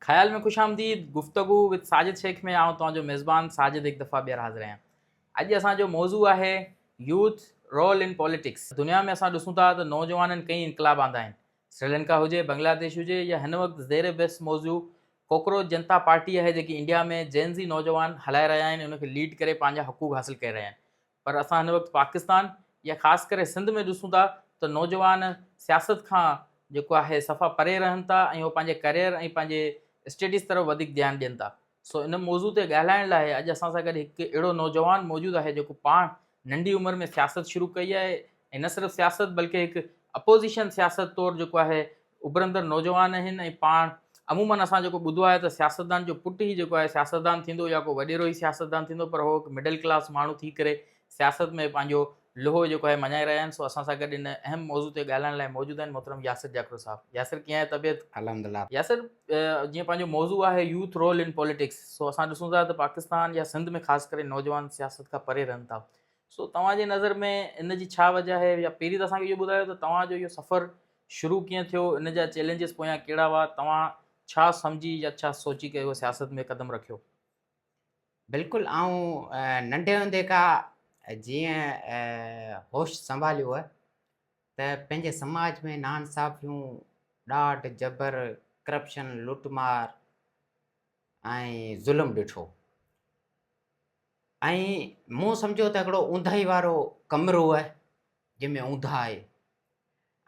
خيال ۾ خوش آمديد گفتگو وٿ ساجد شيخ ۾ آئون توهان جو ميزبان ساجد هڪ دفعا ٻيهر حاضر آهيان اڄ اسان جو موضوع آهي يوٿ رول ان پاليٽڪس دنيا ۾ اسان ڏسون ٿا ته نوجوانن ڪئين انقلاب آندا آهن سريلنڪا هجي بنگلاديش هجي يا هن وقت زير بحث موضوع ڪوڪروچ جنتا پارٽي آهي جيڪي انڊيا ۾ جين زي نوجوان هلائي رهيا آهن ان کي ليڊ ڪري پنهنجا حقوق حاصل ڪري رهيا آهن پر اسان هن وقت پاڪستان يا خاص ڪري سنڌ ۾ ڏسون ٿا ته نوجوان سياست کان جيڪو آهي صفا پري رهن ٿا ۽ اهو پنهنجي ڪريئر ۽ پنهنجي اسٽيڊيز طرف وڌيڪ ڌيان ڏين ٿا سو ان موضوع تي ڳالهائڻ لاء اڄ اسان سان گڏ هڪ اهڙو نوجوان موجود آهي جيڪو پاڻ ننڍي عمر ۾ سياست شروع ڪئي آهي ۽ نه صرف سياست بلڪه هڪ اپوزيشن سياست طور جيڪو آهي اڀرندڙ نوجوان آهن ۽ پاڻ عموماً اسان جيڪو ٻڌو آهي ته سياستدان جو پٽ ئي جيڪو آهي سياستدان ٿيندو يا ڪو وڏيرو ئي سياستدان ٿيندو پر هو هڪ مڊل ڪلاس ماڻهو ٿي ڪري سياست ۾ پنهنجو لوهو جيڪو آهي مڃائي رهيا آهن سو اسان سان گڏ ان اهم موضوع تي ڳالهائڻ لاء موجود آهن محترم ياسر جاکڙو صاحب ياسر ڪيئن آهي طبيعت الحمدلله ياسر جيئن پنهنجو موضوع آهي يوٿ رول ان پوليٽڪس سو اسان ڏسون ٿا ته پاڪستان يا سنڌ ۾ خاص ڪري نوجوان سياست کان پري رهن ٿا سو توهان جي نظر ۾ ان جي ڇا وجه آهي يا پهرين ته اسان کي اهو ٻڌايو ته توهان جو اهو سفر شروع ڪيئن ٿيو، ان جا چئلينجز پويان ڪهڙا هئا، توهان ڇا سمجهي يا ڇا سوچي ڪري اهو سياست ۾ قدم رکيو؟ بلڪل آئون ننڍي هوندي کا جيئن هوش سنڀاليو هئه ته پنهنجي سماج ۾ ناانصافيون، ڏاڍ، جبر، ڪرپشن، لٽ مار ۽ ظلم ڏٺو ۽ مون سمجهيو ته هڪڙو اونداهي وارو ڪمرو هئه جنهن ۾ اونداهي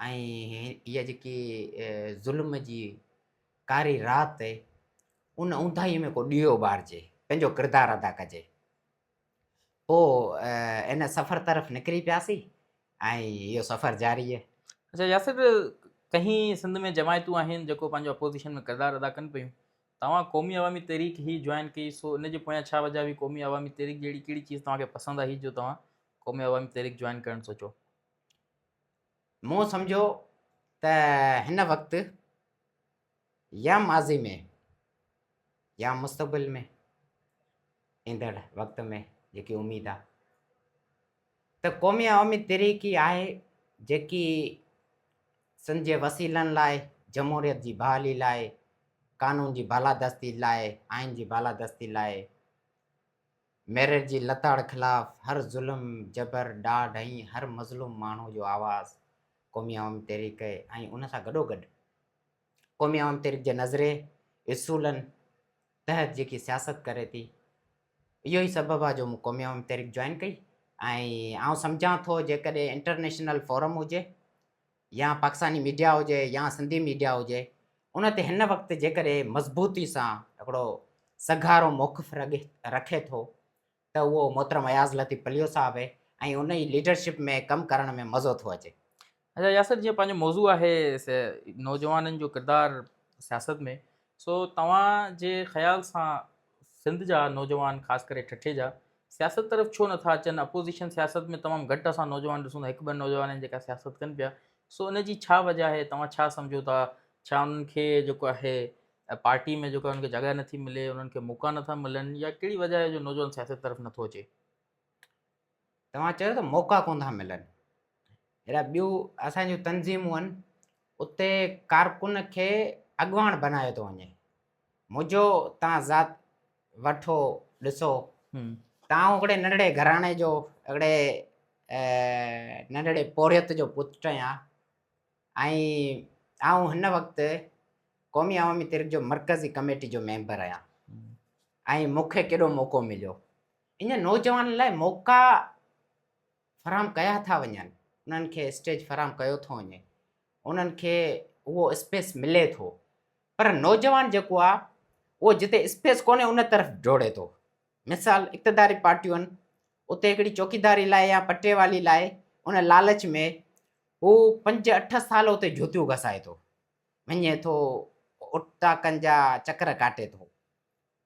۽ اها جيڪي ظلم جي ڪاري رات ان اونداهيء ۾ ڪو ڏيئو ٻارجي، پنهنجو ڪردار ادا ڪجي. پوء ان سفر طرف نڪري پياسين ۽ اهو سفر جاري. اچا ياسر ڪهين سنڌ ۾ جماعتون آهن جيڪو پنهنجو اپوزيشن ۾ ڪردار ادا ڪن پيون توهان قومي عوامي تحريڪ هي جوائن ڪئي سو ان جي پويان ڇا وجهه هئي قومي عوامي تحريڪ جهڙي ڪهڙي چيز توهان کي پسند آهي جو توهان قومي عوامي تحريڪ جوائن ڪرڻ سوچو. مون سمجهيو ته هن وقت يا ماضي ۾ يا مستقبل ۾ ايندڙ وقت ۾ جيڪي اميد آ ته قومي عوامي تحريڪ ئي آهي جيڪي سنڌ جي وسيلن لاء جمهوريت جي بحالي لاء قانون جي بالادستي لاء آئين جي بالادستي لاء ميرٽ جي لتاڙ خلاف هر ظلم، جبر، ڏاڍ ۽ هر مظلوم ماڻهو جو آواز قومي عوامي تحريڪ ۽ ان سان گڏوگڏ قومي عوامي تحريڪ جي نظرئي، اصولن، تحت جيڪي سياست ڪري ٿي، اهو ئي سبب آهي جو مون قومي عوامي تحريڪ جوائن ڪئي ۽ آئون سمجهان ٿو جيڪڏهن انٽرنيشنل فورم هجي يا پاڪستاني ميڊيا هجي يا سنڌي ميڊيا هجي ان تي هن وقت جيڪڏهن مضبوطي سان هڪڙو سگهارو موقف رکي ٿو ته اهو محترم اياز لطيف پليو صاحب آهي ۽ ان جي ليڊرشپ ۾ ڪم ڪرڻ ۾ مزو ٿو اچي. اچا ياسر جيئن پنهنجو موضوع آهي سي نوجوانن جو ڪردار سياست ۾ سو توهان جي خيال سان سنڌ جا نوجوان خاص ڪري ٺٽي جا سياست طرف ڇو نٿا اچن اپوزيشن سياست ۾ تمام گهٽ اسان نوجوان ڏسون ٿا هڪ ٻن نوجوان آهن جيڪا سياست ڪن پيا سو ان جي ڇا وجه آهي توهان ڇا سمجهو ٿا ڇا انهن کي جيڪو آهي پارٽي ۾ جيڪو انهن کي جڳهه نٿي ملي انهن کي موقعا نٿا ملن يا ڪهڙي وجه آهي جو نوجوان سياست طرف نٿو اچي توهان چيو ته موقعا ڪون ٿا ملن. اهڙا ٻيون اسان جون تنظيمون آهن اتي ڪارڪن کي اڳواڻ بنايو ٿو وڃي. منهنجو توهان ذات وٺو ڏسو توهان هڪڙي ننڍڙي گهراڻي جو هڪڙي ننڍڙي پورهيت جو پٽ آهيان ۽ آئون هن وقت قومي عوامي تحريڪ جو مرڪزي ڪميٽي جو ميمبر آهيان ۽ مون کي ڪيڏو موقعو مليو انهن نوجوانن لاء موقعا فراهم ڪيا ٿا وڃن، انهن کي اسٽيج فراهم ڪيو ٿو وڃي، انهن کي اهو اسپيس ملي ٿو پر نوجوان جيڪو آ اهو جتي اسپيس ڪونهي ان طرف ڊوڙي ٿو، مثال اقتداري پارٽيون اتي هڪڙي چوڪيداري لاء يا پٽيوالي لاء ان لالچ ۾ هو پنج اٺ سال اتي جوتيون گسائي ٿو وڃي ٿو اٽا ڪن جا چڪر ڪاٽي ٿو.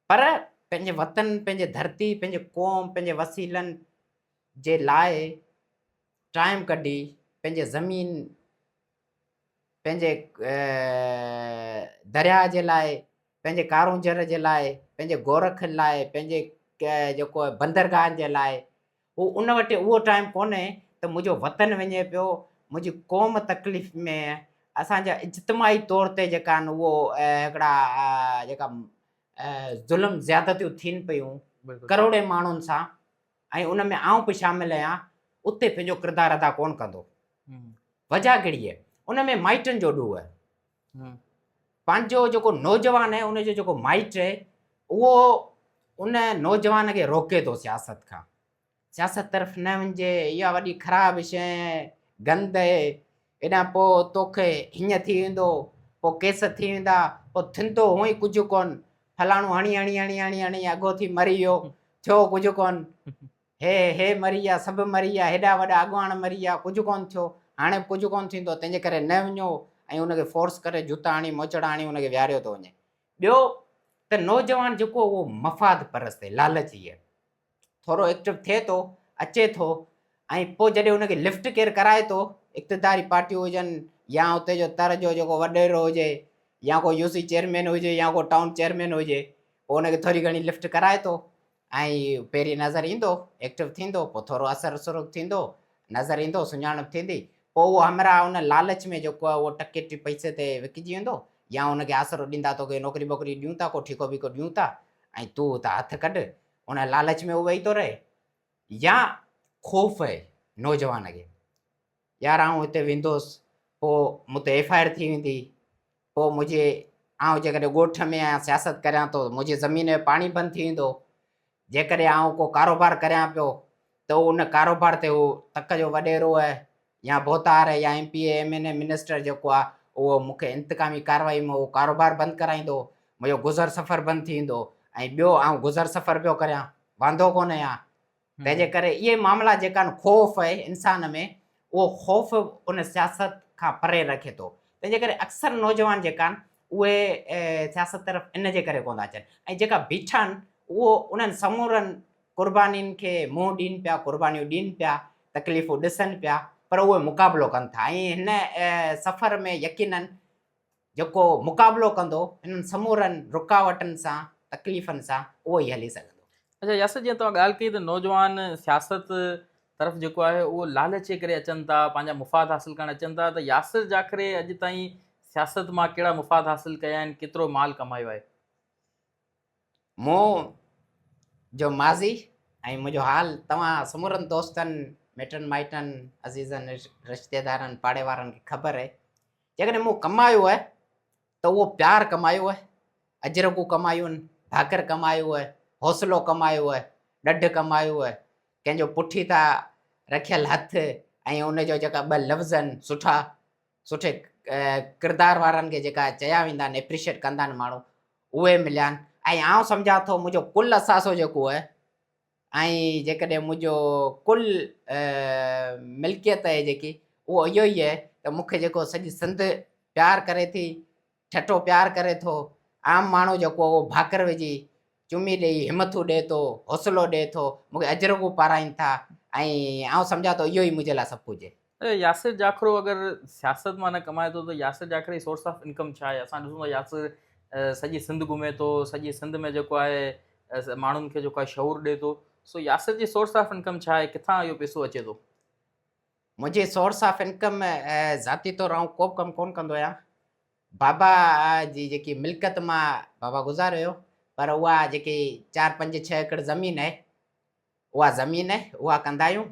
پر پنهنجي وطن، پنهنجي ڌرتي، پنهنجي قوم، پنهنجي وسيلن جي لاء ٽائيم ڪڍي پنهنجي زمين، پنهنجي درياهه جي لاء، پنهنجي ڪارونجهر جي لاء، پنهنجي گورک لاء، پنهنجي جيڪو بندرگاهن جي لاء هو ان وٽ اهو ٽائيم ڪونهي ته منهنجو وطن وڃي پيو، منهنجي قوم تڪليف ۾ اسان جا اجتماعي طور تي جيڪا آهن اهو هڪڙا جيڪا ظلم زيادتيون ٿين پيون ڪروڙين ماڻهن سان ۽ ان ۾ آئون به شامل آهيان اتي پنهنجو ڪردار ادا ڪونه ڪندو وجهه ڪهڙي آهي ان ۾ مائٽن جو ڏوهه پنهنجو جيڪو نوجوان آهي ان جو جيڪو مائٽ آهي اهو ان نوجوان کي روڪي ٿو سياست کان، سياست طرف نه وڃج اها وڏي خراب شيء آهي، گند آهي، هيڏانهن پوء توکي هيئن ٿي ويندو، پوء ڪيس ٿي ويندا، پوء ٿيندو هونء ئي ڪجهه ڪونه، فلاڻو هڻي هڻي هڻي هڻي هڻي اگهو ٿي مري ويو، ٿيو ڪجهه ڪونه، هي هي مري ويا سڀ مري ويا هيڏا وڏا اڳواڻ مري ويا ڪجهه ڪونه ٿيو هاڻي به ڪجهه ڪونه ٿيندو تنهنجي ڪري نه وڃو ۽ ان کي فورس ڪري جوتا هڻي موچڙا هڻي ان کي ويهاريو ٿو وڃي ٻيو ته نوجوان جيڪو اهو مفاد پرست هي لالچي هي ٿورو ايڪٽو ٿئي ٿو اچي ٿو ۽ پوء جڏهن ان کي لفٽ ڪير ڪرائي ٿو اقتداري پارٽيون هجن يا اتي جو تر جو جيڪو وڏيرو هجي يا ڪو يو سي چيئرمين هجي يا ڪو ٽائون چيئرمين هجي پوء ان کي ٿوري گهڻي لفٽ ڪرائي ٿو ائين ئي پهرين نظر ايندو، ايڪٽو ٿيندو، پوء ٿورو اثر سرخ ٿيندو، نظر ايندو، سڃاڻپ ٿيندي، پوء اهو همراهه ان لالچ ۾ جو ڪو اهو ٽڪي ٽي پئسي تي وڪجي ويندو يا ان کي آسرو ڏيندا تو کي نوڪري ٻوڪري ڏيون ٿا ڪو ٺيڪو ويڪو ڏيون ٿا ۽ تون اتان هٿ ڪڍ ان لالچ ۾ اهو ويهي ٿو رهي يا خوف نوجوان کي يار آئون اتي ويندوس پوء مون تي ايف آء آر ٿي ويندي پوء منهنجي آئون جيڪڏهن ڳوٺ ۾ آهيان سياست ڪريان ٿو منهنجي زمين ۾ پاڻي بند ٿي ويندو جيڪڏهن آئون ڪو ڪاروبار ڪريان پيو ته ان ڪاروبار تي هو تڪ جو وڏيرو آهي يا ڀوتار آهي يا M P A M N A minister جيڪو آهي اهو مون کي انتقامي ڪارروائي ۾ اهو ڪاروبار بند ڪرائيندو منهنجو گذر سفر بند ٿي ويندو ۽ ٻيو آئون گذر سفر پيو ڪريان واندو ڪونه آهيان تنهنجي ڪري اهي معاملا جيڪا آهن خوف اهي انسان ۾ اهو خوف ان سياست کان پري رکي ٿو تنهنجي ڪري اڪثر نوجوان جيڪا آهن اهي سياست طرف ان جي ڪري ڪونه ٿا اچن ۽ جيڪا بيٺا آهن اهو انهن سمورن قربانين کي منهن ڏين پيا قربانيون ڏين پيا تڪليفون ڏسن پيا پر اهي مقابلو ڪن ٿا ۽ هن سفر ۾ يقينن جيڪو مقابلو ڪندو انهن سمورن رڪاوٽن سان تڪليفن سان اهو ئي هلي سگهندو. اچا ياسر جيئن توهان ڳالهه ڪئي ته نوجوان سياست طرف جيڪو آهي اهو لالچ جي ڪري اچن ٿا پنهنجا مفاد حاصل ڪرڻ اچن ٿا ته ياسر جاکري اڄ تائين سياست مان ڪهڙا مفاد حاصل ڪيا آهن ڪيترو مال ڪمايو آهي؟ مون جو ماضي ۽ منهنجو حال توهان سمورن دوستن، مٽن مائٽن، عزيزن رشتيدارن، پاڙيوارن کي خبر اهي. جيڪڏهن مون ڪمايو اهي ته اهو پيار ڪمايو اهي، اجرڪون ڪمايون اهن، ڀاڪر ڪمايو اهي، حوصلو ڪمايو اهي، ڏڍ ڪمايو اهي، ڪنهن جو پٺيتان رکيل هٿ ۽ ان جو جيڪا ٻه لفظ آهن سٺا، سٺي ڪردار وارن کي جيڪا چيا ويندا آهن اپريشيٽ ڪندا آهن ماڻهو اهي مليا آهن ۽ آئون سمجهان ٿو منهنجو ڪل اثاثو جيڪو اهي ۽ جيڪڏهن منهنجو ڪل ملڪيت اهي جيڪي اهو اهو ئي اهي ته مونکي جيڪو سڄي سنڌ پيار ڪري ٿي ٺٽو پيار ڪري ٿو، عام ماڻهو جيڪو اهو ڀاڪر وجهي، چمي ڏيئي همٿون ڏئي ٿو، حوصلو ڏئي ٿو، مون کي اجرڪون پارائين ٿا ۽ آئون سمجهان ٿو اهو ئي منهنجي لاء سڀ ڪجهه. ياسر جاکرو اگر سياست مان نه ڪمائي ٿو ته ياسر جاکري جي سورس آف انڪم ڇا آهي؟ اسان ڏسون ٿا ياسر سڄي سنڌ گهمي ٿو، سڄي سنڌ ۾ جيڪو آهي ماڻهن کي جيڪو آهي شعور ڏئي ٿو، سو ياسر جي سورس آف انڪم ڇا آهي، ڪٿان اهو پيسو اچي ٿو؟ منهنجي سورس آف انڪم ذاتي طور آئون ڪوبه ڪم ڪون ڪندو آهيان بابا جي جيڪي ملڪت مان بابا گذاري ويو پر اها جيڪي چار پنج ڇهه ايڪڙ زمين اهي اها زمين اهي اها ڪندا آهيون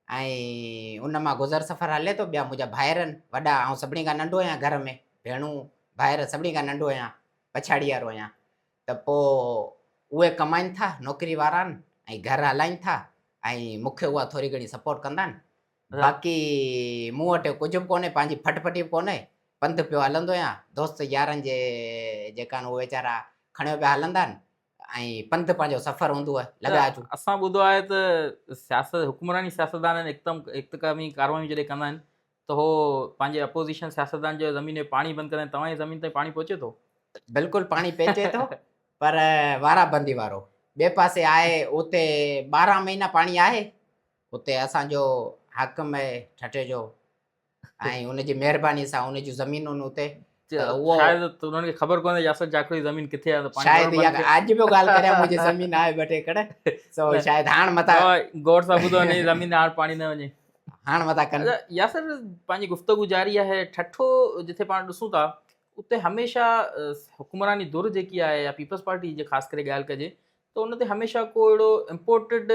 ۽ ان مان گذر سفر هلي ٿو ٻيا منهنجا ڀائر آهن وڏا آئون سڀني کان ننڍو آهيان گهر ۾ ڀيڻون ڀائر سڀني کان ننڍو آهيان پڇاڙي وارو آهيان ته پوء اهي ڪمائين ٿا نوڪري وارا آهن ۽ گهر هلائين ٿا ۽ مون کي اها ٿوري گهڻي سپورٽ ڪندا آهن باقي مون وٽ ڪجهه به ڪونهي پنهنجي ڦٽ ڦٽي به ڪونهي پنڌ پيو هلندو آهيان دوست يارن جي جيڪا آهن اهي ويچارا کڻيو پيا هلندا آهن ۽ پنڌ پنهنجو سفر هوندو آهي لڳا اچون اسان ٻڌو آهي ته سياست حڪمراني سياستدان هڪدم اختقامي ڪاروايون جڏهن ڪندا آهن ته هو پنهنجي اپوزيشن سياستدان جو زمين ۾ پاڻي بند ڪرائين توهان جي زمين تائين پاڻي پهچي ٿو؟ بلڪل پاڻي پهچي ٿو پر وارا بندي وارو ٻئي پاسي آهي اتي ٻارهن مهينا پاڻي آهي اتي اسان جو حاڪم آهي ٺٽي جو ۽ ان جي مهرباني سان ان جون زمينون اتي شايد انهن کي خبر ڪونهي ياسر جاکوڙي زمين ڪٿي آهي پاڻي شايد يا اڄ به ڳالهه ڪريا مون جي زمين آهي بٽي ڪڙه سو شايد هاڻ متا گور سا ٻڌو نه زمين هاڻ پاڻي نه وڃي هاڻ متا ڪن ياسر پنهنجي گفتگو جاري آهي ٺٺو جتي پاڻ ڏسون ٿا اتي هميشه حڪمراني دور جيڪي آهي يا پيپلز پارٽي جي خاص ڪري ڳالهه ڪجي ته ان تي هميشه ڪو اهڙو امپورٽيڊ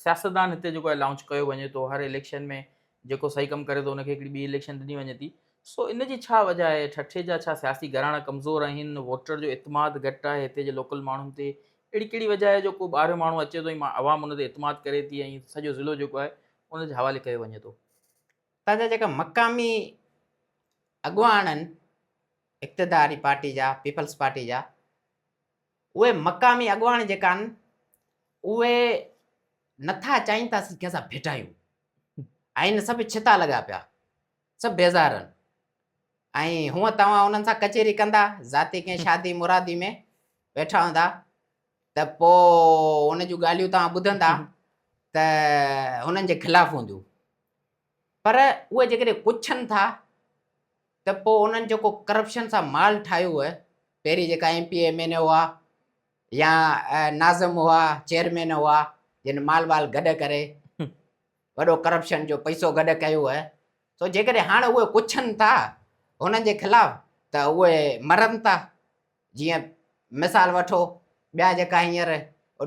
سياستدان هتي جيڪو لانچ ڪيو وڃي ٿو هر اليڪشن ۾ جيڪو صحيح ڪم ڪري ٿو ان کي هڪڙي ٻي اليڪشن ڏني وڃي ٿي سو ان جي ڇا وجه آهي ٺٽي جا ڇا سياسي گهراڻا ڪمزور آهن ووٽر جو اعتماد گهٽ آهي هتي جي لوڪل ماڻهن تي اهڙي ڪهڙي وجه آهي جو ڪو ٻاهريون ماڻهو اچي ٿو ۽ عوام ان تي اعتماد ڪري ٿي ۽ سڄو ضلعو جيڪو آهي ان جي حوالي ڪيو وڃي ٿو هتان جا جيڪا مقامي اڳواڻ آهن اقتداري پارٽي جا پيپلز پارٽي جا اهي مقامي اڳواڻ جيڪا آهن اهي نٿا چاهين ته اسين ڪنهن سان ڀيٽايون ۽ سڀ ڇتا لڳا پيا سڀ بيزار آهن ۽ هونء توهان انهن سان ڪچهري ڪندا ذاتي ڪنهن شادي مرادي ۾ ويٺا هوندا ته پوء ان جون ڳالهيون توهان ٻڌندا ته هنن جي خلاف هونديون پر اهي جيڪڏهن پڇن ٿا ته پوء انهن جيڪو ڪرپشن سان مال ٺاهيو هو، پهرين جيڪا M P A M N A هئا يا ناظم هئا، چيئرمين هئا جن مال وال گڏ ڪري وڏو ڪرپشن جو پئسو گڏ ڪيو هو، سو جيڪڏهن هاڻ اهي پڇن ٿا هنن جي خلاف ته اهي مرن ٿا جيئن مثال وٺو ٻيا جيڪا هينئر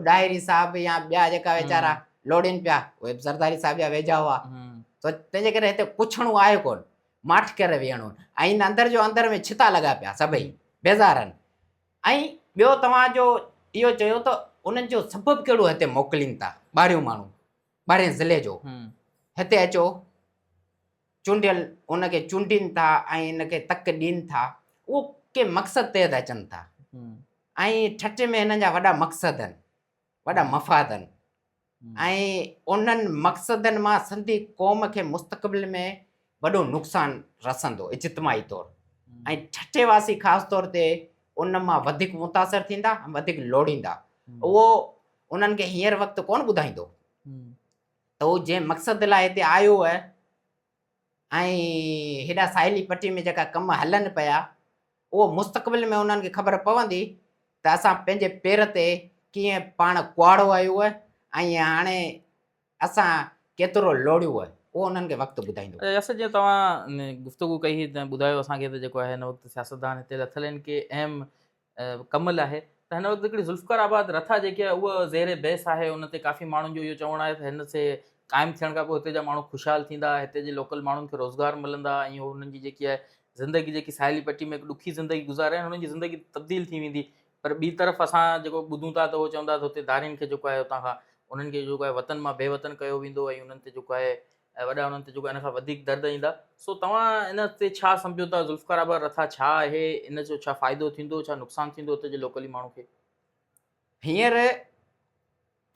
ڏاهري صاحب يا ٻيا جيڪا ويچارا لوڙين پيا اهي به زرداري صاحب جا ويجها هئا ته تنهنجي ڪري هتي پڇڻو آهي ڪون ماٺ ڪري ويهڻو ۽ اندر جو اندر ۾ ڇتا لڳا پيا سڀئي بيزارن ۽ ٻيو توهان جو اهو چيو ته انهن جو سبب کهڙو هتي موڪلين ٿا ٻاهريون ماڻهو ٻاهرين ضلعي جو هتي اچو چونڊيل ان کي چونڊين ٿا ۽ ان کي تڪ ڏين ٿا اهو ڪنهن مقصد تحت اچن ٿا ۽ ٺٽي ۾ هنن جا وڏا مقصد آهن وڏا مفاد آهن ۽ انهن مقصدن مان سنڌي قوم کي مستقبل ۾ وڏو نقصان رسندو اجتماعي طور ۽ ٺٽي واسي خاص طور تي ان مان وڌيڪ متاثر ٿيندا ۽ وڌيڪ لوڙيندا اهو انهن کي هينئر وقت ڪون ٻڌائيندو ته هو جنهن مقصد لاء هتي آيو هو ۽ هيڏا ساحلي پٽي ۾ جيڪا ڪم هلن پيا اهو مستقبل ۾ انهن کي خبر پوندي ته اسان پنهنجي پير تي ڪيئن پاڻ ڪهاڙو آيو هو ۽ هاڻي اسان ڪيترو لوڙيو هو اهو انهن کي وقت ٻڌائيندو. ياسر جيئن توهان گفتگو ڪئي هئي تنهن ٻڌايو اسان کي ته جيڪو آهي هن وقت سياستدان هتي لٿل آهن ڪي اهم ڪمل آهي ته هن وقت هڪڙي ذوالفقار آباد رٿا جيڪي آهي اها زير بحث آهي ان تي ڪافي ماڻهن جو اهو چوڻ آهي ته هن سي قائم ٿيڻ کان پوء هتي جا ماڻهو خوشحال ٿيندا هتي جي لوڪل ماڻهن کي روزگار ملندا ۽ انهن جي جيڪي آهي زندگي جيڪي ساحلي پٽي ۾ هڪ ڏکي زندگي گذاري انهن جي زندگي تبديل ٿي ويندي پر ٻي طرف اسان جيڪو ٻڌون ٿا ته اهو چوندا ته هتي ڌارين کي جيڪو آهي هتان کان انهن کي جيڪو آهي وطن مان بي وطن ڪيو ويندو ۽ انهن تي جيڪو آهي ۽ وڏا انهن تي جيڪو ان کان وڌيڪ درد ايندا، سو توهان ان تي ڇا سمجهو ته ذوالفقار آباد رٿا ڇا آهي، ان جو ڇا فائدو ٿيندو، ڇا نقصان ٿيندو اتي جي لوڪلي ماڻهو کي؟ هينئر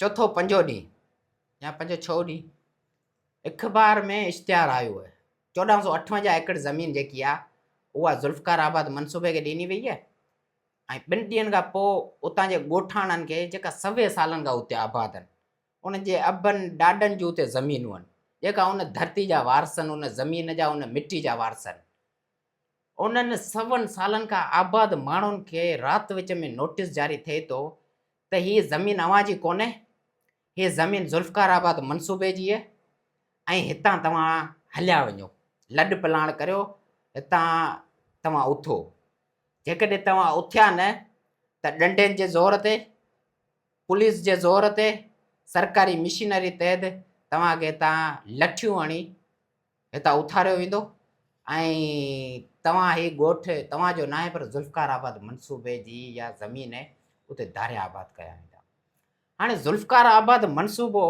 چوٿو پنجون ڏينهن يا پنجون ڇهون ڏينهن اخبار ۾ اشتهار آيو آهي، چوڏهن سؤ اٺونجاهه ايڪڙ زمين جيڪي آهي اها ذوالفقار آباد منصوبي کي ڏني وئي آهي ۽ ٻن ڏينهن کان پوء اتان جي ڳوٺاڻن کي جيڪا سوين سالن کان اتي آباد آهن، ان جي ابن ڏاڏن جون تي زمينون آهن، جيڪا ان ڌرتي جا وارث آهن، ان زمين جا، ان مٽي جا وارث آهن. انهن سون سالن کان آباد ماڻهن کي رات وچ ۾ نوٽيس جاري ٿئي ٿو ته هيء زمين اوهان جي ڪونهي، هيء زمين ذوالفقار آباد منصوبي جي آهي ۽ هتان توهان هليا وڃو، لڏ پلاڻ ڪريو، هتان توهان اٿو. جيڪڏهن توهان اٿيا نه ته ڏنڊين جي زور تي، پوليس جي زور تي سرڪاري مشينري تحت توهان کي هتان لٺيون هڻي هتان اٿاريو ويندو ۽ توهان هي ڳوٺ توهان جو ناهي پر ذوالفقار آباد منصوبي جي يا زمين اتي ڌاريا آباد ڪيا ويندا هاڻي ذوالفقار آباد منصوبو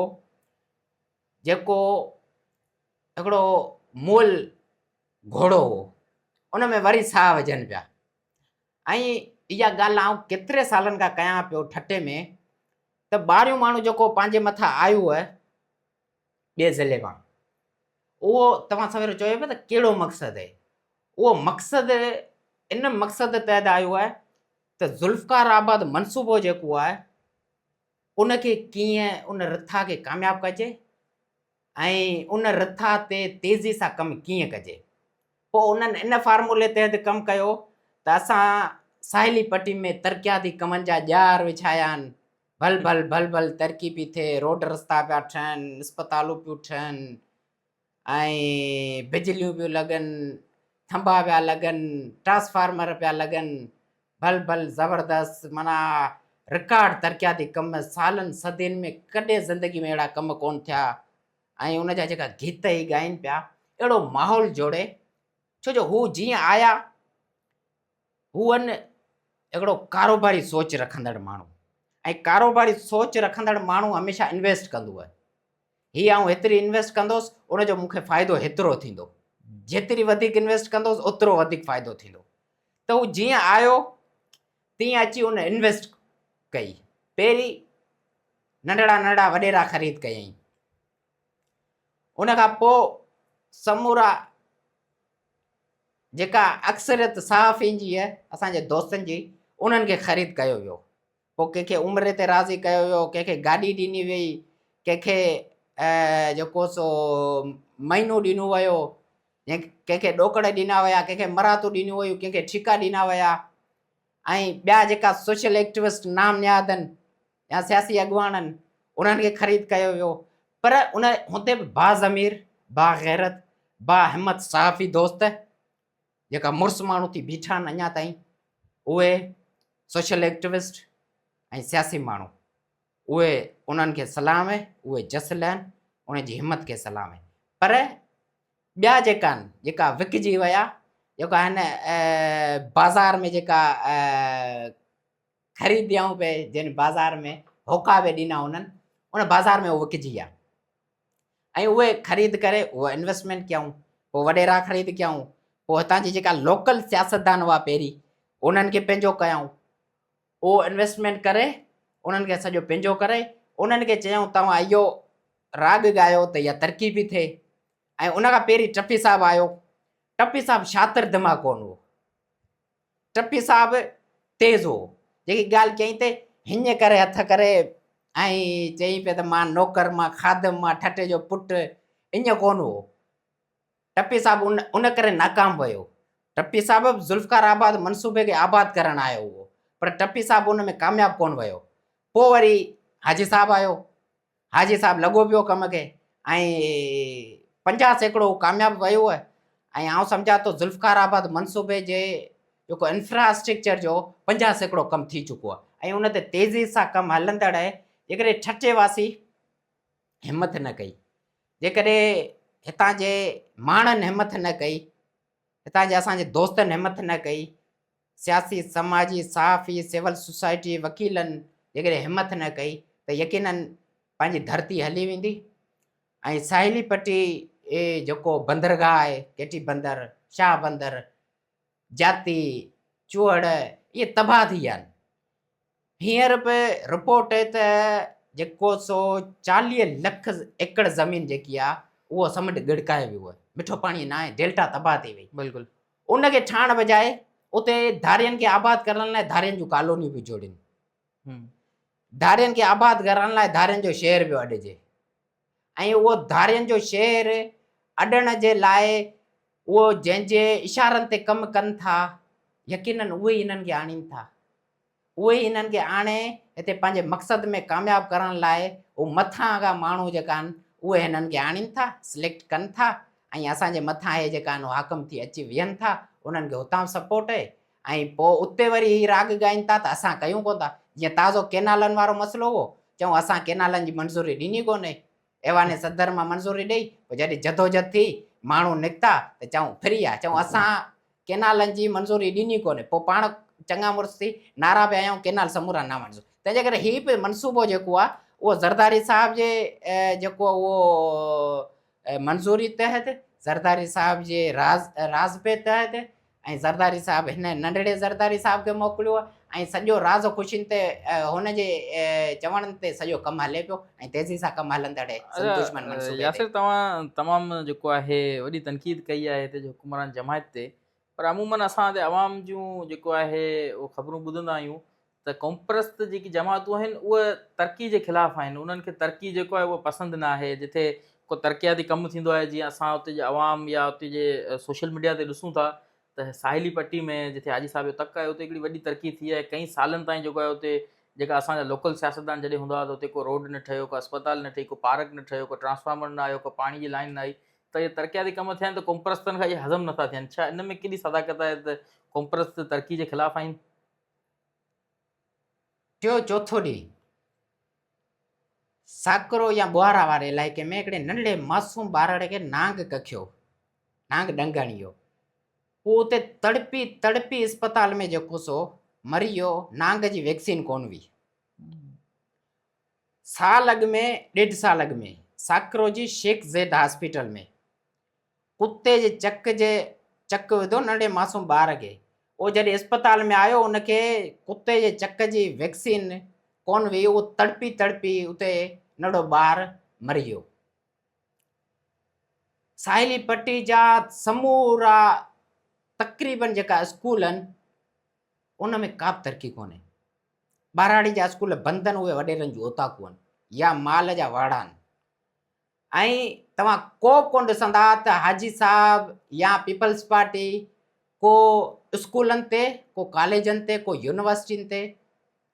جيڪو هڪڙو مول گهوڙو هو ان ۾ وري ساهه وجهن پيا ۽ اها ڳالهه آئون ڪيتري سالن کان ڪيان پيو ٺٽي ۾ ته ٻاهريون ماڻهو جيڪو پنهنجي مٿان آيو هو ٻئي ضلعي مان اهو توهان سويرو چيو پيا ته ڪهڙو مقصد هي اهو مقصد ان مقصد تحت آيو آهي ته ذوالفقار آباد منصوبو جيڪو آهي ان کي ڪيئن ان رٿا کي ڪامياب ڪجي ۽ ان رٿا تي تيزي سان ڪم ڪيئن ڪجي. پوء انهن ان فارمولي تحت ڪم ڪيو ته اسان ساحلي پٽي ۾ ترقياتي ڪمن جا ڄار وڇايا آهن، ڀل ڀل ڀل ڀل ترقي پي ٿئي، روڊ رستا پيا ٺهن، اسپتالون پيون ٺهن ۽ بجليون پيون لڳن، ٿنڀا پيا لڳن، ٽرانسفارمر پيا لڳن، بل بل زبردست معنيٰ رڪارڊ ترقياتي ڪم سالن صدين ۾ ڪڏهن زندگي ۾ اهڙا ڪم ڪون ٿيا ۽ ان جا جيڪا گيت هي ڳائين پيا اهڙو ماحول جوڙي ڇو جو هو جيئن آيا هون هڪڙو ڪاروباري سوچ رکندڙ ماڻهو ۽ ڪاروباري سوچ رکندڙ ماڻهو هميشه انويسٽ ڪندو آهي هي آئون هيتري انويسٽ ڪندوس ان جو مون کي فائدو هيترو ٿيندو جيتري وڌيڪ انويسٽ ڪندوس اوترو وڌيڪ فائدو ٿيندو ته هو جيئن آيو تيئن اچي ان انويسٽ ڪئي پهرين ننڍڙا ننڍڙا وڏيرا خريد ڪيائين ان کان پوء سمورا جيڪا اڪثريت صحافين جي اسان جي دوستن جي انهن کي خريد ڪيو ويو پوء ڪنهن کي عمري تي راضي ڪيو ويو، ڪنهن کي گاڏي ڏني ويئي، ڪنهن کي جيڪو سو مئنو ڏنو ويو، ڪنهن کي ڏوڪڙ ڏنا ويا، ڪنهن کي مراتون ڏنيون ويون، ڪنهن کي ٺيڪا ڏنا ويا ۽ ٻيا جيڪا سوشل ايڪٽوسٽ نام نهادن يا سياسي اڳواڻن انهن کي خريد ڪيو ويو پر ان هوندي به باضمير، باغيرت، باهمت صحافي دوست جيڪا مڙس ماڻهو ٿي بيٺا آهن اڃا تائين اهي سوشل ايڪٽوسٽ ۽ سياسي ماڻهو اهي انهن کي سلام اهي اهي جس لهن انهن جي همت کي سلام اهي پر ٻيا جيڪا آهن جيڪا وڪجي ويا جيڪا هن بازار ۾ جيڪا خريديائون به جن بازار ۾ هوڪا به ڏنا هونن ان بازار ۾ هو وڪجي ويا ۽ اهي خريد ڪري اهو انويسٽمينٽ ڪيائون پوء وڏيرا خريد ڪيائون پوء هتان جي جيڪا لوڪل سياستدان هئا پهرين انهن کي پنهنجو ڪيائون اهو انويسٽمينٽ ڪري انهن کي سڄو پنهنجو ڪري انهن کي چيائون توهان اهو راڳ ڳايو ته اها ترقي به ٿئي ۽ ان کان پهرين ٽپي صاحب آيو ٽپي صاحب شاطر دماغ ڪون هو ٽپي صاحب تيز هو، جيڪي ڳالهه چيائين ته هنء ڪري هٿ ڪري ۽ چئي پئي ته مان نوڪر، مان خادم، مان ٺٽي جو پٽ اڃ ڪونه هو. ٽپي صاحب ان ان ڪري ناڪام ويو. ٽپي صاحب به ذوالفقار آباد منصوبي کي آباد ڪرڻ آيو هو، پر ٽپي صاحب ان ۾ ڪامياب ڪونه ويو. پوء وري حاجي صاحب آيو، حاجي صاحب لڳو پيو ڪم کي ۽ پنجاهه سيڪڙو هو ڪامياب ويو ۽ آئون سمجهان ٿو ذوالفقار آباد منصوبي جي جيڪو انفراسٽرڪچر جو پنجاهه سيڪڙو ڪم ٿي چڪو آهي ۽ ان تي تيزي سان ڪم هلندڙ آهي جيڪڏهن ٺٽي واسي همٿ نه ڪئي جيڪڏهن هتان جي ماڻهن همٿ نه ڪئي هتان جي اسان جي دوستن همٿ نه ڪئي سياسي، سماجي، صحافي، سول سوسائٽي، وڪيلن جيڪڏهن همٿ نه ڪئي ته يقينن پنهنجي ڌرتي هلي ويندي ۽ ساحلي پٽي جيڪو بندرگاهه آهي، ڪيٽي بندر، شاهه بندر، جاتي، چوهڙ اهي تباهه ٿي ويا آهن. هينئر به رپورٽ اهي ته جيڪو سو چاليهه لک ايڪڙ زمين جيڪي آهي اهو سمنڊ ڳڙڪائي ويو آهي، مٺو پاڻي ناهي، ڊيلٽا تباهه ٿي وئي. بلڪل. ان کي ٺاهڻ بجاء اتي ڌارين کي آباد ڪرڻ لاء ڌارين جون ڪالونيون پيون جوڙين. ڌارين کي آباد ڪرڻ لاء ڌارين جو شهر پيو اڏجي. ۽ اهو ڌارين جو شهر اڏڻ جي لاء اهو جنهن جي اشارن تي ڪم ڪن ٿا، يقيناً اهي ئي انهن کي آڻين ٿا. اهي ئي انهن کي آڻي هتي پنهنجي مقصد ۾ ڪامياب ڪرڻ لاء اهي مٿان اهي ماڻهو جيڪا آهن اهي هنن کي آڻين ٿا، سليڪٽ ڪن ٿا ۽ اسان جي مٿان اهي جيڪا آهن اهي حاڪم ٿي اچي ويهن ٿا، انهن کي هتان سپورٽ اهي ۽ پوء اتي وري هي راڳ ڳائين ٿا ته اسان ڪيون ڪونه ٿا. جيئن تازو ڪينالن وارو مسئلو هئو، چئون اسان ڪينالن جي منظوري ڏني ڪونهي. ايوان صدر مان منظوري ڏئي، پوء جڏهن جدوجھد ٿي، ماڻهو نڪتا ته چئون ڦري آ، چئون اسان ڪينالن جي منظوري ڏني ڪونهي. پوء پاڻ چڱا مڙس ٿي نعرا به هنيائون ڪينال سمورا نامنظور. تنهن جي ڪري هي به منصوبو جيڪو آ، اهو زرداري صاحب جي جيڪو اهو منظوري تحت زرداري صاحب جي راضپي تحت ۽ زرداري صاحب هن ننڍڙي زرداري صاحب کي موڪليو ۽ سڄو راض خوشين تي هن جي چوڻ تي سڄو ڪم هلي پيو ۽ تيزي سان ڪم هلندڙ دشمن منصوبي تي ياسر توهان تمام جيڪو آهي وڏي تنقيد ڪئي آهي هتي جو حڪمران جماعت تي پر عمومن اسان تي عوام جون جيڪو آهي اهو خبرون ٻڌندا آهيون ته قومپرست جيڪي جماعتون آهن اهي ترقي جي خلاف آهن انهن کي ترقي جيڪو آهي اهو پسند نه آهي جتي ڪو ترقياتي ڪم ٿيندو آهي جيئن اسان اتي جي عوام يا اتي جي سوشل ميڊيا تي ڏسون ٿا ته ساحلي پٽي ۾ جتي حاجي صاحب جو تڪ آهي اتي هڪڙي وڏي ترقي ٿي آهي ڪئين سالن تائين جيڪو آهي اتي جيڪا اسان جا لوڪل سياستدان جڏهن هوندا هئا ته اتي ڪو روڊ نه ٺهيو ڪو اسپتال نه ٺهي ڪو پارڪ نه ٺهيو ڪو ٽرانسفارمر نه آيو ڪو پاڻي جي لائن نه آئي ته اهي ترقياتي ڪم ٿيا آهن ته قومپرستن کان اهي هضم نٿا ٿين ڇا ان ۾ ڪيڏي صداقت آهي ته قومپرست ترقي جي خلاف آهن ٽيو چوٿون ڏينهن ساڪرو يا ٻوهارا واري علائقي ۾ هڪڙي ننڍڙي معصوم ٻارڙي کي نانگ ڪکيو، نانگ ڏنگڻ اهو، هو اتي تڙپي تڙپي اسپتال ۾ جيڪو سو مري ويو، نانگ جي ويڪسين ڪونه هئي. سال اڳ ۾ ڏيڍ سال اڳ ۾ ساڪرو جي شيخ زيد هاسپيٽل ۾ ڪتي جي چڪ جي چڪ وڌو ننڍي معصوم ٻار کي اهو جڏهن اسپتال ۾ آيو ان کي ڪتي جي چڪ جي ويڪسين ڪون وئي اهو تڙپي تڙپي اتي ننڍو ٻار مري ويو ساحلي پٽي جا سمورا تقريبن جيڪا اسڪول ان ان ۾ ڪا به ترقي ڪونهي ٻهراڙي جا اسڪول بند ان اهي وڏيرن جون اوطاقون يا مال جا واڙا ان ۽ توهان ڪو به ڪونه ڏسندا ته حاجي صاحب يا پيپلز پارٽي ڪو اسڪولن تي، ڪو ڪاليجن تي، ڪو يونيورسٽين تي،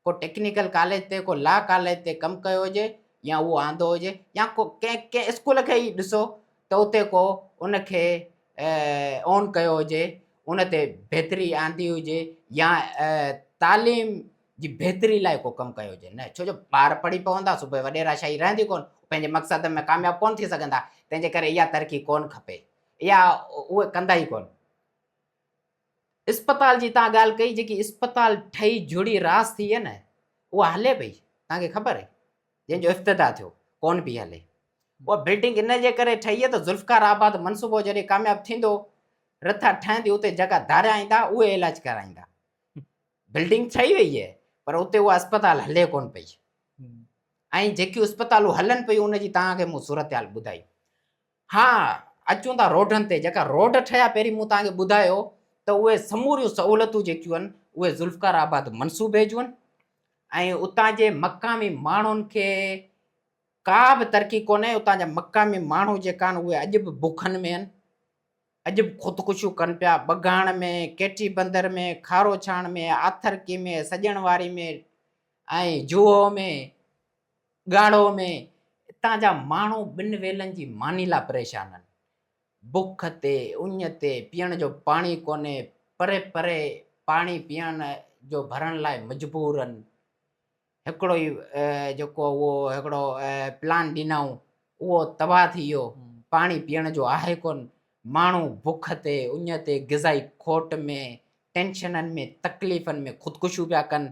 ڪو ٽيڪنيڪل ڪاليج تي، ڪو لا ڪاليج تي ڪم ڪيو هجي يا اهو آندو هجي يا ڪو ڪنهن ڪنهن اسڪول کي ئي ڏسو ته اتي ڪو ان کي اون ڪيو هجي، ان تي بهتري آندي هجي يا تعليم جي بهتري لاء ڪو ڪم ڪيو هجي نه ڇو جو ٻار پڙهي پوندا سو پوء وڏيراشاهي رهندي ڪونه پنهنجي مقصد ۾ ڪامياب ڪونه ٿي سگهندا تنهن جي ڪري اها ترقي ڪونه کپي يا اهي ڪندا ئي ڪونه. اسپتال جي تان ڳالهه ڪئي جيڪي اسپتال ٺهي جڙي راس ٿي هي نه اها هلي پئي تان کي خبر هي جنهن جو افتتاح ٿيو ڪونه پئي هلي اها بلڊنگ ان جي ڪري ٺهي هي ته ذوالفقار آباد منصوبو جڏهن ڪامياب ٿيندو رٿا ٺهندي اتي جيڪا ڌاريا ايندا اهي علاج ڪرائيندا بلڊنگ ٺهي وئي آهي پر اتي اها اسپتال هلي ڪونه پئي ۽ جيڪي اسپتالون هلن پيون ان جي توهان کي مون صورتحال ٻڌائي ها اچون ٿا روڊن تي جيڪا روڊ ٺهيا پهرين مون توهان کي ٻڌايو ته اهي سموريون سهولتون جيڪيون آهن اهي ذوالفقار آباد منصوبي جون آهن ۽ اتان جي مقامي ماڻهن کي ڪا به ترقي ڪونهي اتان جا مقامي ماڻهو جيڪا آهن اهي اڄ به بکن ۾ آهن اڄ به خودڪشيون ڪن پيا، ٻگهاڻ ۾، ڪيٽي بندر ۾، کاروڇاڻ ۾، آٿرڪي ۾، سڄڻ واري ۾، ۽ جوهو ۾، ڳاڙهو ۾، اتان جا ماڻهو ٻن ويلن جي ماني لاء پريشان آهن. بک تي، اڃ تي، پيئڻ جو پاڻي ڪونهي، پري پري پاڻي پيئڻ جو ڀرڻ لاء مجبور آهن. هڪڙو ئي جيڪو اهو هڪڙو پلان ڏنائون اهو تباهه ٿي ويو پاڻي پيئڻ جو آهي ڪون ماڻهو بک تي اڃ تي غذائي کوٽ ۾ ٽينشنن ۾ تڪليفن ۾ خودڪشيون پيا ڪن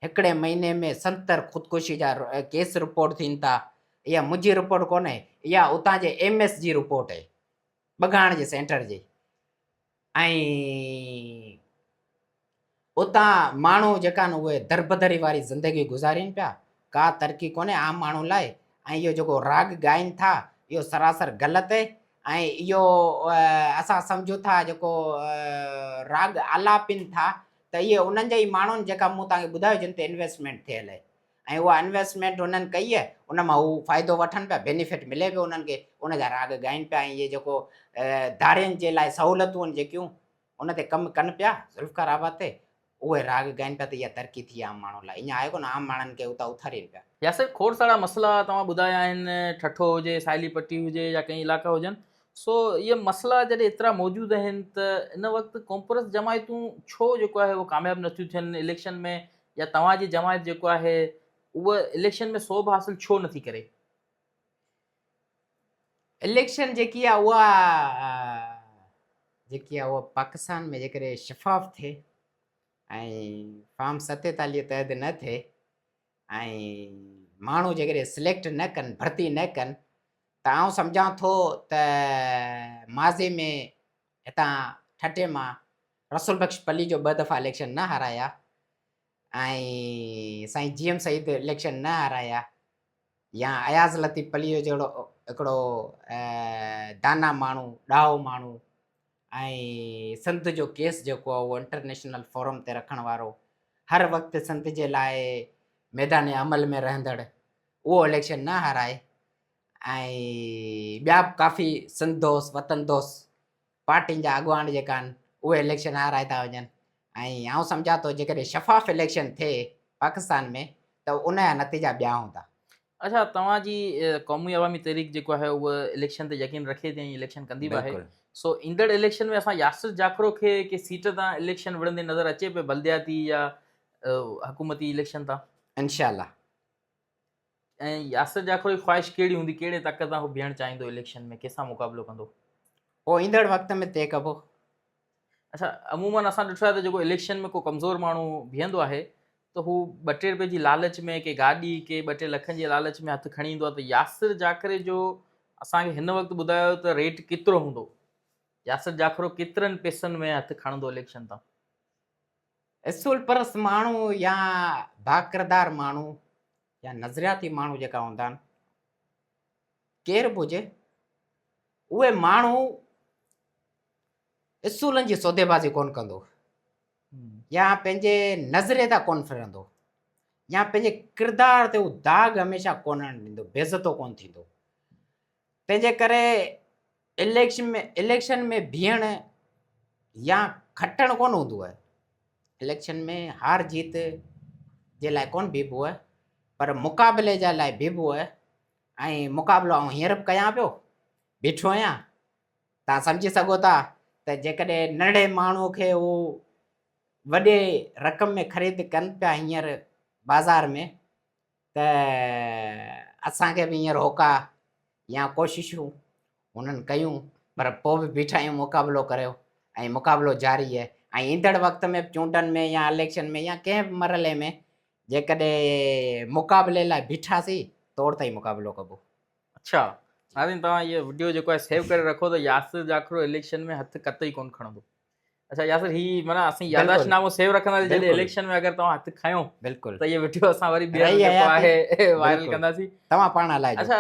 هڪڙي مهيني ۾ ستر خودڪشي جا ڪيس رپورٽ ٿين ٿا اها منهنجي رپورٽ ڪونهي اها اتان جي ايم ايس جي رپورٽ آهي بگاڻ جي سينٽر جي ۽ اتان ماڻهو جيڪا آهن اهي دربدري واري زندگي گذارين پيا، ڪا ترقي ڪونهي عام ماڻهو لاء ۽ اهو جيڪو راڳ ڳائين ٿا اهو سراسر غلط اهي ۽ اهو اسان سمجهون ٿا جيڪو راڳ آلاپين ٿا ته اهي انهن جي ئي ماڻهن جيڪا مون توهان کي ٻڌايو جن تي انويسٽمينٽ ٿيل اهي ۽ اها انويسٽمينٽ انهن ڪئي آهي ان مان هو فائدو وٺن پيا بينيفٽ ملي پيو انهن کي ان جا راڳ ڳائين پيا ۽ اهي جيڪو ڌارين جي لاء سهولتون آهن جيڪيون ان تي ڪم ڪن پيا ذوالفقار آباد تي اهي راڳ ڳائين پيا ته اها ترقي ٿي عام ماڻهن لاء اڃان آهي ڪونه عام ماڻهن کي اتان اٿارين پيا. ياسر کوڙ سارا مسئلا توهان ٻڌايا آهن ٺٺو هجي ساحلي پٽي هجي يا ڪئين علائقا هجن سو اهي مسئلا جڏهن ايترا موجود آهن ته ان وقت ڪونپرس جماعتون ڇو جيڪو آهي اهو ڪامياب نٿيون ٿين اليڪشن ۾ يا توهان جي جماعت جيڪو آهي اهو اليڪشن ۾ صوب حاصل ڇو نٿي ڪري؟ اليڪشن جيڪي آهي اها جيڪي آهي اها پاڪستان ۾ جيڪڏهن شفاف ٿئي ۽ فارم ستيتاليهه تحت نه ٿئي ۽ ماڻهو جيڪڏهن سليڪٽ نه ڪن ڀرتي نه ڪن ته آئون سمجهان ٿو ته ماضي ۾ هتان ٺٽي مان رسول بخش پليجو ٻه دفعا اليڪشن نه هارايا ۽ سائين جي ايم سعيد اليڪشن نه هارايا يا اياز لطيف پليجو جهڙو هڪڙو دانا ماڻهو ڏاهو ماڻهو ۽ سنڌ جو ڪيس جيڪو آهي اهو انٽرنيشنل فورم تي رکڻ وارو هر وقت سنڌ جي لاء ميدان عمل ۾ رهندڙ اهو اليڪشن نه هارائي ۽ ٻيا به ڪافي سنڌ دوست وطن دوست پارٽين جا اڳواڻ جيڪا آهن اهي اليڪشن هارائي ٿا وڃن ۽ آئون سمجهان ٿو جيڪڏهن شفاف اليڪشن ٿئي پاڪستان ۾ ته ان جا نتيجا ٻيا هوندا. اچا توهان جي قومي عوامي تحريڪ جيڪو آهي اهو اليڪشن تي يقين رکي ٿي ۽ اليڪشن ڪندي به آهي سو ايندڙ اليڪشن ۾ اسان ياسر جاکرو کي ڪنهن سيٽ تان اليڪشن وڙهندي نظر اچي پئي بلدياتي يا حڪومتي اليڪشن تان؟ انشاء الله. ۽ ياسر جاکوڙ جي خواهش ڪهڙي هوندي ڪهڙي طاقت سان هو بيهڻ چاهيندو اليڪشن ۾ ڪنهن سان مقابلو ڪندو اهو ايندڙ وقت ۾ طئي ڪبو اچھا عموماً اسان ڏٺو آهي ته جيڪو اليڪشن ۾ ڪو ڪمزور ماڻهو بيهندو آهي ته هو ٻه ٽي روپئي جي لالچ ۾ ڪي گاڏي ڪي ٻه ٽي لکن جي لالچ ۾ هٿ کڻي ايندو آهي ته ياسر جاکري جو اسان کي هن وقت ٻڌايو ته ريٽ ڪيترو هوندو ياسر جاکرو ڪيترن پيسن ۾ هٿ کڻندو اليڪشن تان اصول پرست ماڻهو يا باڪردار ماڻهو يا نظرياتي ماڻهو جيڪا هوندا آهن ڪير به هجي اهي ماڻهو اصولن جي سوديبازي ڪون ڪندو يا پنهنجي نظري تان ڪون ڦرندو يا پنهنجي ڪردار تي داغ هميشه ڪون آڻيندو بيزتو ڪون ٿيندو تنهنجي ڪري اليڪشن ۾ بيهڻ يا کٽڻ ڪونه هوندو آهي. اليڪشن ۾ هار جيت جي لاء ڪونه بيهبو آهي پر مقابلي جي لاء بيهبو آهي ۽ مقابلو آئون هينئر به ڪيان پيو، بيٺو آهيان. توهان سمجهي سگهو ٿا ته جيڪڏهن ننڍڙي ماڻهوء کي هو وڏي رقم ۾ خريد ڪن پيا هينئر بازار ۾، ته اسان کي به ايئن روڪا يا ڪوششون هنن ڪيون پر پوء به بيٺا آهيون مقابلو ڪريو ۽ مقابلو جاري آهي ۽ ايندڙ وقت ۾ به چونڊن ۾ يا اليڪشن ۾ يا ڪنهن به مرحلي ۾ جيڪڏهن مقابلي لاء بيٺاسين توڙ تائين مقابلو ڪبو. اڇا ناظرين توهان هي وڊيو جيڪو آهي سيو ڪري رکو ته ياسر جاکرو اليڪشن ۾ هٿ قطعي ڪون کڻندو. اچھا ياسر هي معنی اسين ياداشت نامو سيو رکنداسين جڏهن اليڪشن ۾ اگر توهان هٿ کنيو بلڪل ته هي ويڊيو اسان وري ٻيهر جيڪو آهي وائرل ڪنداسين توهان پاڻ هلائجو اچھا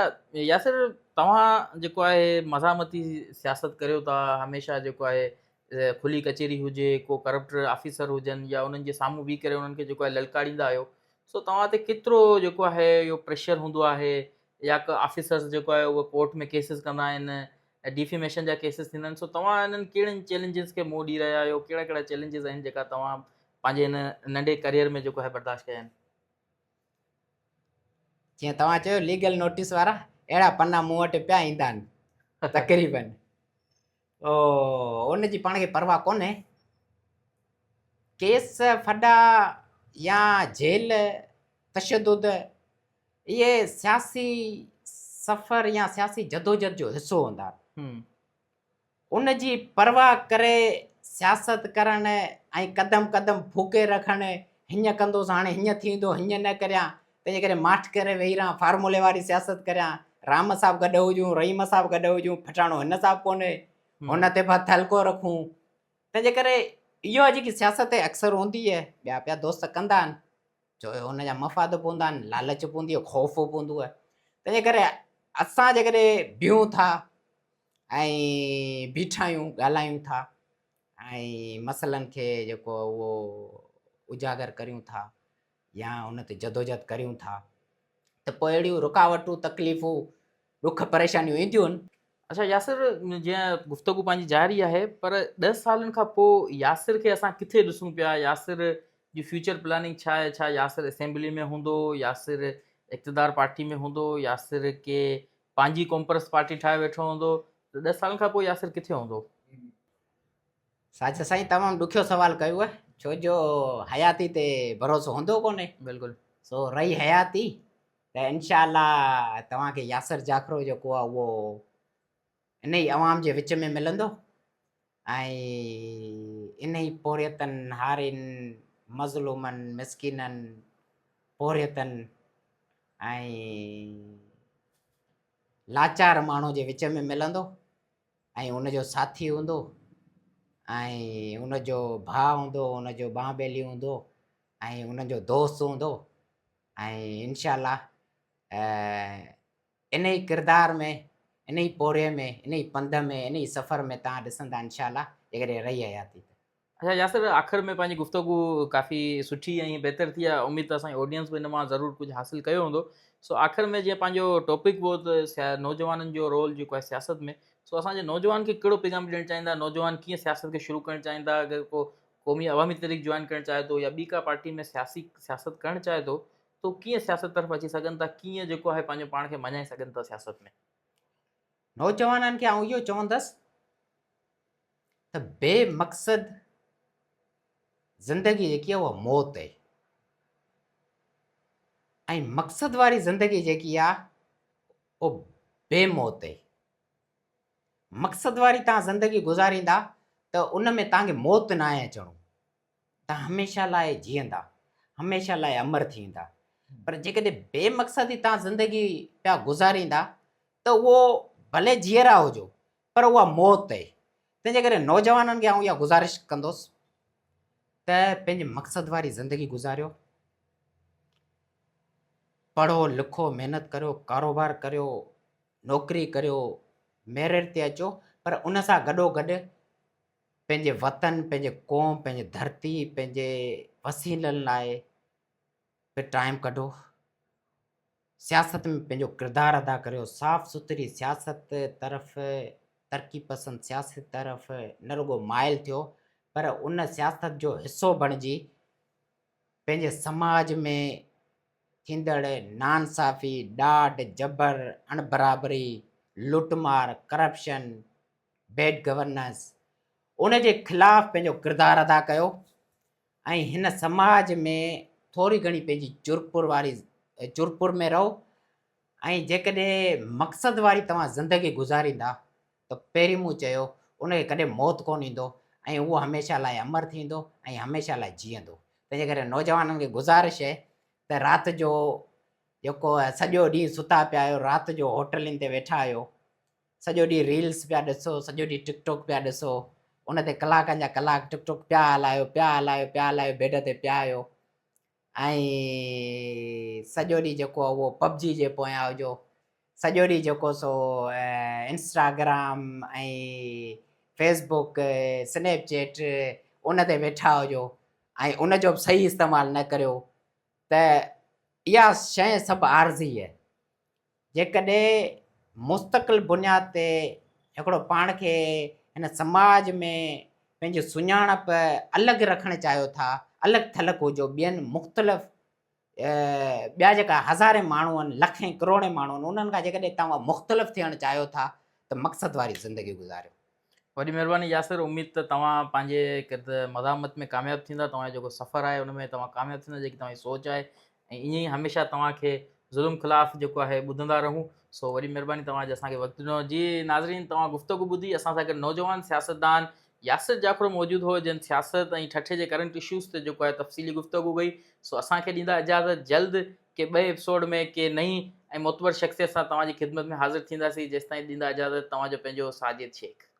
ياسر توهان جيڪو آهي مزاحمتي سياست ڪريو ٿا هميشه جيڪو آهي کلي ڪچهري هجي ڪو ڪرپٽر آفيسر هجن يا انهن جي سامهون بيهي ڪري انهن کي جيڪو آهي للڪاريندا آهيو سو توهان تي ڪيترو جيڪو آهي اهو پريشر هوندو آهي يا ڪو آفيسرز جيڪو آهي اهو ڪورٽ ۾ ڪيسز ڪندا آهن ڊيفيميشن جا ڪيسز ٿيندا آهن سو توهان انهن ڪهڙن چئلينجز کي منهن ڏئي رهيا آهيو ڪهڙا ڪهڙا چئلينجز آهن جيڪا توهان پنهنجي هن ننڍي ڪريئر ۾ جيڪو آهي برداشت ڪيا آهن جيئن توهان چيو ليگل نوٽيس وارا اهڙا پنا مون وٽ پيا ايندا آهن تقريبن او ان جي پاڻ کي پرواهه ڪونهي ڪيس ڦڏا يا جيل تشدد اهي سياسي سفر يا سياسي جدوجھد جو حصو هوندا ان جي پرواهه ڪري سياست ڪرڻ ۽ قدم قدم ڦوڪي رکڻ هينئن ڪندوس هاڻي هينئن ٿيندو هينئن نه ڪريان تنهنجي ڪري ماٺ ڪري ويهي رهان فارمولي واري سياست ڪريان رام صاحب گڏ هجون رحيم صاحب گڏ هجون پھچاڻو هن صاحب ڪونهي هن تي بھت هلڪو رکون تنهنجي ڪري اهو جيڪي سياست اڪثر هوندي آهي ٻيا پيا دوست ڪندا آهن ڇو جو ان جا مفاد به هوندا آهن، لالچ به هوندي آهي، خوف به هوندو آهي. تنهنجي ڪري اسان جيڪڏهن بيهون ٿا ۽ بيٺا آهيون، ڳالهايون ٿا ۽ مسئلن کي جيڪو اهو اجاگر ڪريون ٿا يا ان تي جدوجهد ڪريون ٿا ته پوء اهڙيون رڪاوٽون تڪليفون ڏک پريشانيون اينديون. اچا ياسر جيان گفتگو پنهنجي جاري آهي پر ڏهه سالن کان پوء ياسر کي اسان ڪٿي ڏسون پيا ياسر جي فيوچر پلاننگ ڇا آهي ڇا ياسر اسيمبلي ۾ هوندو ياسر اقتدار پارٽي ۾ هوندو ياسر ڪي پنهنجي قومپرست پارٽي ٺاهي ويٺو هوندو ته ڏهه سالن کان پوء ياسر ڪٿي هوندو. ساجد سائين تمام ڏکيو سوال ڪيو آهي ڇو جو حياتي تي ڀروسو هوندو ڪونهي بلڪل سو رهي حياتي ته انشاء الله توهان کي ياسر جاکرو جيڪو آهي اهو انهي عوام جي وچ ۾ ملندو ۽ انهي پورهيتن، هارين، مظلومن، مسڪينن، پورهيتن ۽ لاچار ماڻهو جي وچ ۾ ملندو ۽ ان جو ساٿي هوندو ۽ ان جو ڀاء هوندو، ان جو ٻانهه ٻيلي هوندو ۽ ان جو دوست هوندو. ۽ انشاء الله انهي ڪردار ۾ انهي پورهيي ۾ انهي پنڌ ۾ انهي سفر ۾ توهان ڏسندا انشاء الله جيڪڏهن رهي حياتي ته. اچا ياسر آخر ۾ پنهنجي گفتگو ڪافي سٺي ۽ بهتر ٿي آهي اميد ته اسان جي آڊينس به ان مان ضرور ڪجهه حاصل ڪيو هوندو سو آخر ۾ جيئن پنهنجو ٽاپڪ به هو ته نوجوانن جو رول جيڪو آهي سياست ۾ سو اسان جي نوجوان کي ڪهڙو پيغام ڏيڻ چاهيندا نوجوان ڪيئن سياست کي شروع ڪرڻ چاهيندا اگر ڪو قومي عوامي تحريڪ جوائن ڪرڻ چاهي ٿو يا ٻي ڪا پارٽي ۾ سياسي سياست ڪرڻ چاهي ٿو ته هو ڪيئن سياست طرف اچي سگهن ٿا ڪيئن جيڪو آهي پنهنجو پاڻ کي مڃائي سگهن ٿا سياست ۾. نوجوانن کي آئون اهو چوندس ته بي مقصد زندگي جيڪي آهي اها موت آهي ۽ مقصد واري زندگي جيڪي آهي اها بي موت آهي. مقصد واري توهان زندگي گذاريندا ته ان ۾ توهان کي موت ناهي اچڻو. توهان هميشه لاء جيئندا، هميشه لاء امر ٿي ويندا. پر جيڪڏهن بي مقصدي توهان زندگي پيا گذاريندا ته اهو ڀلي جيئرا هجو پر اها موت اهي. تنهنجي ڪري نوجوانن کي آئون اها گذارش ڪندس ته پنهنجي مقصد واري زندگي گذاريو. پڙهو لکو، محنت ڪريو، ڪاروبار ڪريو، نوڪري ڪريو، ميرٽ تي اچو پر ان سان گڏوگڏ پنهنجي وطن، پنهنجي قوم، پنهنجي ڌرتي، پنهنجي وسيلن لاء به ٽائيم ڪڍو. سياست ۾ پنهنجو ڪردار ادا ڪريو. صاف سٿري سياست طرف، ترقي پسند سياست طرف نه رڳو مائل ٿيو پر ان سياست جو حصو بڻجي پنهنجي سماج ۾ ٿيندڙ ناانصافي، ڏاڍ، جبر، اڻبرابري، لٽ مار، ڪرپشن، بيڊ گورننس، ان جي خلاف پنهنجو ڪردار ادا ڪيو ۽ هن سماج ۾ ٿوري گهڻي پنهنجي چرپر واري چرپر ۾ رهو ۽ جيڪڏهن مقصد واري توهان زندگي گذاريندا ته پهرين مون چيو، ان کي ڪڏهن موت ڪونه ايندو ۽ اهو هميشه لاء امر ٿيندو ۽ هميشه لاء جيئندو. تنهنجي ڪري نوجوانن کي گذارش اهي ته رات جو جيڪو سڄو ڏينهن ستا پيا آهيو، رات جو هوٽلين تي ويٺا آهيو، سڄو ڏينهن ريلز پيا ڏسو، سڄو ڏينهن ٽڪ ٽوڪ پيا ڏسو، ان تي ڪلاڪن جا ڪلاڪ ٽڪ ٽوڪ پيا هلايو، پيا هلايو، پيا هلايو، بيڊ تي پيا آهيو، ۽ سڄو ڏينهن جيڪو آهي اهو پبجي جي پويان هجو. سڄو ڏينهن جيڪو سو Instagram ۽ Facebook, Snapchat ان تي ويٺا هجو ۽ ان جو به صحيح استعمال نه ڪريو ته اها شيء سڀ عارضي آهي. جيڪڏهن مستقل بنياد تي هڪڙو پاڻ کي هن سماج ۾ پنهنجي سڃاڻپ الڳ رکڻ چاهيو ٿا، الڳ ٿلڳ هجو ٻين مختلف ٻيا جيڪا هزارين ماڻهو آهن، لکين ڪروڙين ماڻهو آهن، انهن کان جيڪڏهن توهان مختلف ٿيڻ چاهيو ٿا ته مقصد واري زندگي گذاريو. وڏي مھرباني ياسر اميد ته توھان پنھنجي ڪرد مزاحمت ۾ ڪامياب ٿيندا توھان جو جيڪو سفر آھي ان ۾ توھان ڪامياب ٿيندا جيڪي توھان جي سوچ آھي ۽ ائين ئي ھميشه توھان کي ظلم خلاف جيڪو آھي ٻڌندا رھون سو وڏي مھرباني توھان جو اسان کي وقت ڏنو جي ناظرين توھان گفتگو ٻڌي اسان سان گڏ نوجوان سياستدان ياسر جعفر موجود ھو جنھن سياست ۽ ٺٽي جي ڪرنٽ اشوز تي جيڪو آھي تفصيلي گفتگو ڪئي سو اسان کي ڏيندا اجازت جلد ڪي ٻئي ايپسوڊ ۾ ڪي نئين ۽ معتبر شخصيت سان توھان جي خدمت ۾ حاضر ٿينداسين جيستائين ڏيندا اجازت توھان جو پنھنجو ساجد شيخ.